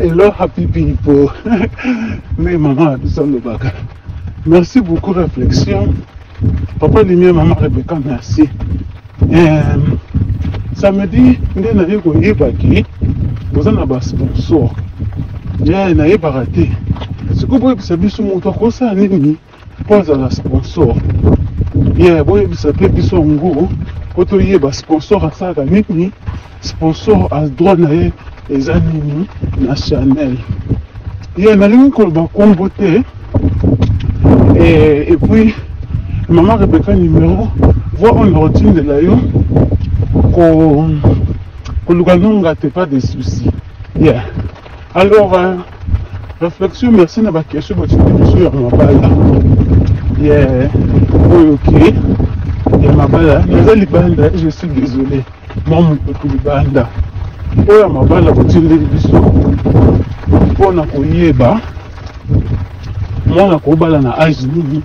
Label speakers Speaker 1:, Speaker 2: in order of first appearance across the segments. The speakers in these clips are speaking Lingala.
Speaker 1: Hello, happy people. Mais maman, nous sommes le bac. Merci beaucoup, réflexion. Papa Limia, maman Rebecca, merci. Euh, samedi, nde naye koyeba ki boza na basponsor ye nayebaka te sikoyo boyebisa biso moto akosala nini mpo azala sponsor ye boyebisa mpe biso yango mpo toyeba sponsor asalaka nini sponsor a droit na ye eza nini na chanel ye nalingi koloba nkombo te epuis mama rebeka numero voi oyo nakotindela yo koluka nonga te pas de souci yeah. Alors, euh, réflexion, merci na bakesho bacikiso ya mabala ya oyo ke ya mabala naza libanda je suis désolé mwa mopepe libanda oyo ya mabala botindeli biso mpo na koyeba mwana kobala na age nini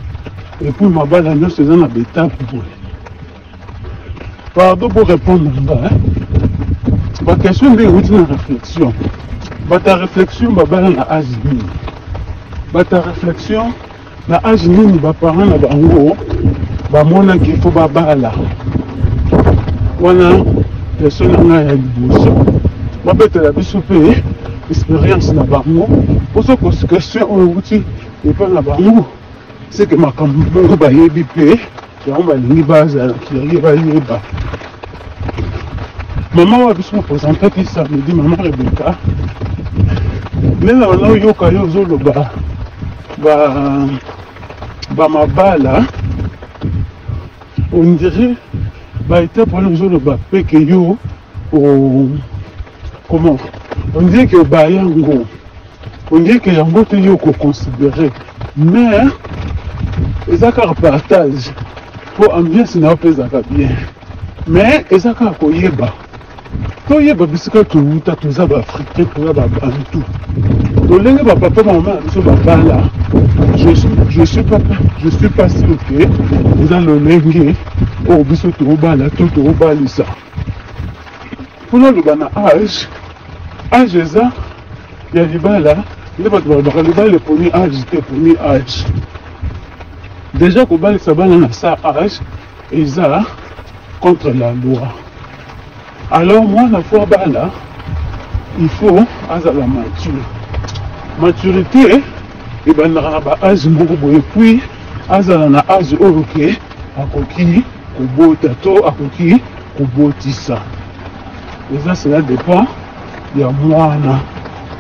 Speaker 1: epuis mabala nyonso eza na betape boye pardon pour répondre na nga baquestion nde euti na réflexion bato ya réflexion babala na age nini bato ya réflexion na age nini baparent na bango bamonaki fo babala wana question na ngai ya liboso babetela biso mpe expérience na bango ozo question oyo euti epai na bango seke makambo bongo bayebi mpe yango balingi bazala kilangi bayeba mama wa biso mopresentaki samedi mama rebeka ndenge wana oyoka yo ozoloba bamabala ondire baetape wana ozoloba peke yo Oh, comment on dirait que obaya yango on dirait que yango te yo okoconsidere mais eza kaka partage mpo ambiance na yo mpe ezalaka bien mais eza kaka koyeba toyeba bisika towuta toza baafricain toza babantu tolenge bapapa mama na biso babala je suis je suis pas je suis pas sûr que eza lolenge oyo biso tokobala to tokobalisa mpona aloba na age age eza ya libala nde bato balobaka libala eponi age te eponi age deja kobalisa bana na sa age eza contre la loi alors mwana fo abala il faut azala mature maturité ebandaka na baage moko boye puis azala na age oyo ke akoki kobota to akoki kobotisa eza cela dépend ya mwana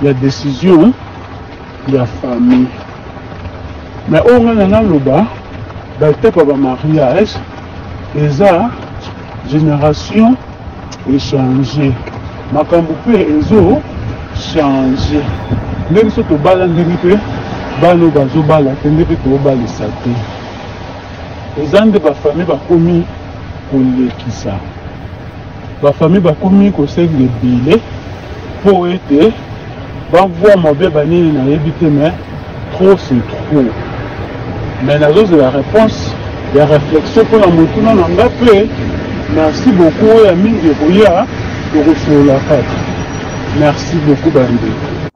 Speaker 1: ya décision ya famille mais oyo ngai na naloba batepa ba mariage eza génération echange makambo mpe ezo change nde biso tobala ndenge mpe bana oyo bazobala te nde mpe tobalisa te Eza nde ba famille bakomi kolekisa, ba famille bakomi kosenga ebele mpo ete bavua mabe banini nayebi te, mais trop c'est trop. Mais nazozela réponse ya réflexion mpo na motuna na nga mpe merci beaucoup, oyo ya mingi ekoya tokosolola kaka. Merci beaucoup bandeko.